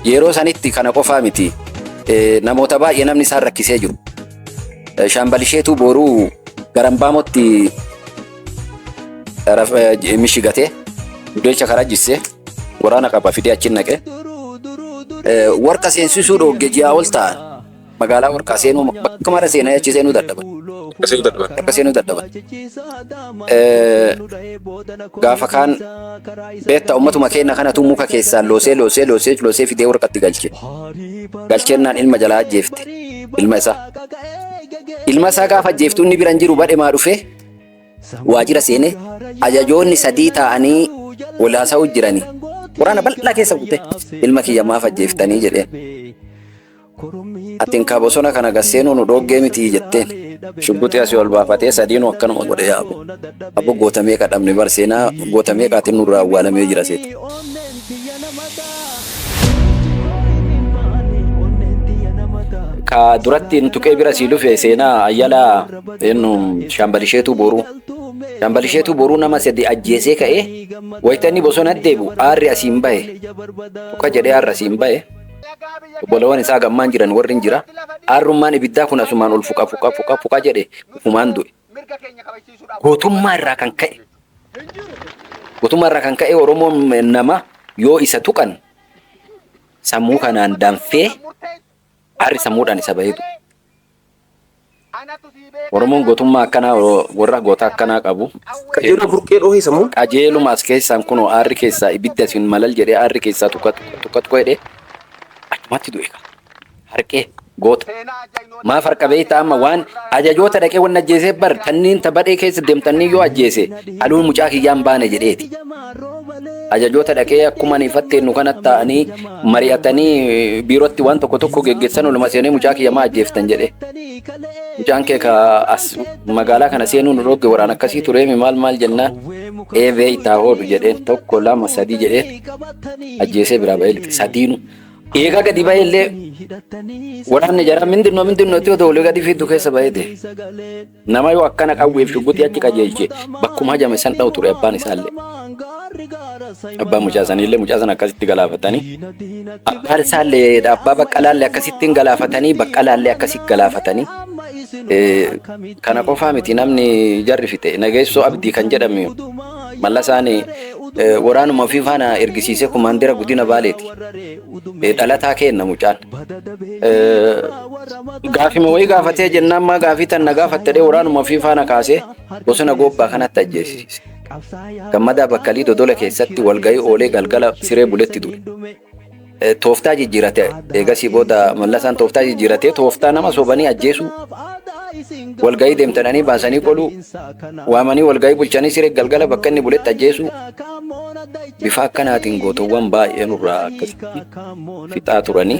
Yeroo sanitti kana qofaa miti namoota baay'ee namni isaan rakkisee jiru. Shaambalisheetuu booruu garambaamotti mishigatee dudeecha karaa jissee waraana qaba fidee achi naqee warqa seensisuu dhoogge ji'a ol ta'an. Magaalaa Warqaa seenuu bakka mara seenaa achi seenuu dadhaban. Akka seenuu dadhaban. Akka seenuu dadhaban. Eh, Gaafa kaan beektaa ummatuma keenya kanatu muka keessaan loosee loosee loosee loosee fidee warqatti galche. Galcheennaan ilma jalaa ajjeefte. Ilma isaa. Ilma isaa gaafa ajjeeftu inni bira hin jiru badhe maa dhufee waajjira seenee ajajoonni sadii taa'anii walaasaa jiranii. Waraana bal'aa keessa kutee ilma kiyya maaf ajjeeftanii jedheen. Atin kaa bosona kana gad seenuu nu dhooggee mitii jetteen. Shugguxii asii ol baafatee sadiinuu akkanuma godhe yaa abo. Abo goota meeqa dhabne bar seenaa goota meeqaatiin nurraa awwaalamee jira seeta. Ka duratti nu tuqee bira sii dhufe seenaa ayyala eennu shaambalisheetuu boruu. Shaambalisheetuu boruu nama sadi ajjeesee ka'ee wayita inni bosona deebi'u aarri asiin bahe. Tuqa jedhee aarri asiin bahe. Obbolowwan isaa gammaan jiran warri hin jira, aarrummaan ibiddaa kun asumaan ol fuqa fuqa fuqa fuqa jedhe ufumaan du'e. Gootummaa irraa kan ka'e gootummaa irraa kan ka'e Oromoon nama yoo isa tuqan sammuu kanaan danfee aarri sammuudhaan isa bahee du'e. Oromoon gotummaa akkanaa worra goota akkanaa qabu Qajeeloo burqee dhoohee sammuun. qajeeluma as keessaan kunoo aarri keessaa ibidda isin malal jedhee aarri keessaa tuqqa tuqqa tuqqa jedhee achumatti du'e kaa harqee goota maaf harqa beektaa amma waan ajajoota dhaqee wanni ajjeesee bar tanniin ta badhee keessa deemtanniin yoo ajjeese haluun mucaa kiyyaa hin baane jedheeti. Ajajoota dhaqee akkuma ani fatteennu kanatti taa'anii mari'atanii biirootti waan tokko tokko geggeessan oluma seenee mucaa kiyya maa ajjeeftan jedhe. Mucaan kee ka as magaalaa kana seenuu nu dhogge waraan akkasii tureemi maal maal jennaan eebee itti haa hoodhu jedheen tokko lama sadii jedhee ajjeesee biraa ba'ee lixe sadiinu. Eegaa gadi ba'ee illee waraanni jaraa mindinnoo mindinnootti yoo ta'u gadi fiiddu keessa ba'ee ta'e. Nama yoo akkana qawweef shugguxii achi qajeelche bakkuma hajame san dha'u ture abbaan isaallee. Abbaan mucaa saniillee mucaa sana akkasitti galaafatanii abbaan isaallee abbaa baqqalaallee akkasitti hin galaafatanii baqqalaallee akkasitti galaafatanii. Kana qofaa miti namni jarri fixe nageessoo abdii kan jedhame mallasaan waraanuma ofii faana ergisiisee kumaandira guddina baaleeti. dhalataa keenna mucaan. Gaafima wayii gaafatee jennaan maa gaafii tan na gaafatte dhee waraanuma ofii faana kaasee bosona goobbaa kanatti ajjeesise. Gammadaa Bakkalii Dodola keessatti walga'ii oolee galgala siree buletti du'e. Tooftaa jijjiirate eegasii booda mallasaan tooftaa jijjiiratee tooftaa nama sobanii ajjeesuu walga'ii deemtadhanii baasanii qoluu Waamanii walga'ii bulchanii siree galgala bakka inni buletti ajjeesuu bifa akkanaatiin gootowwan baay'ee nurraa akkasitti fixaa turanii.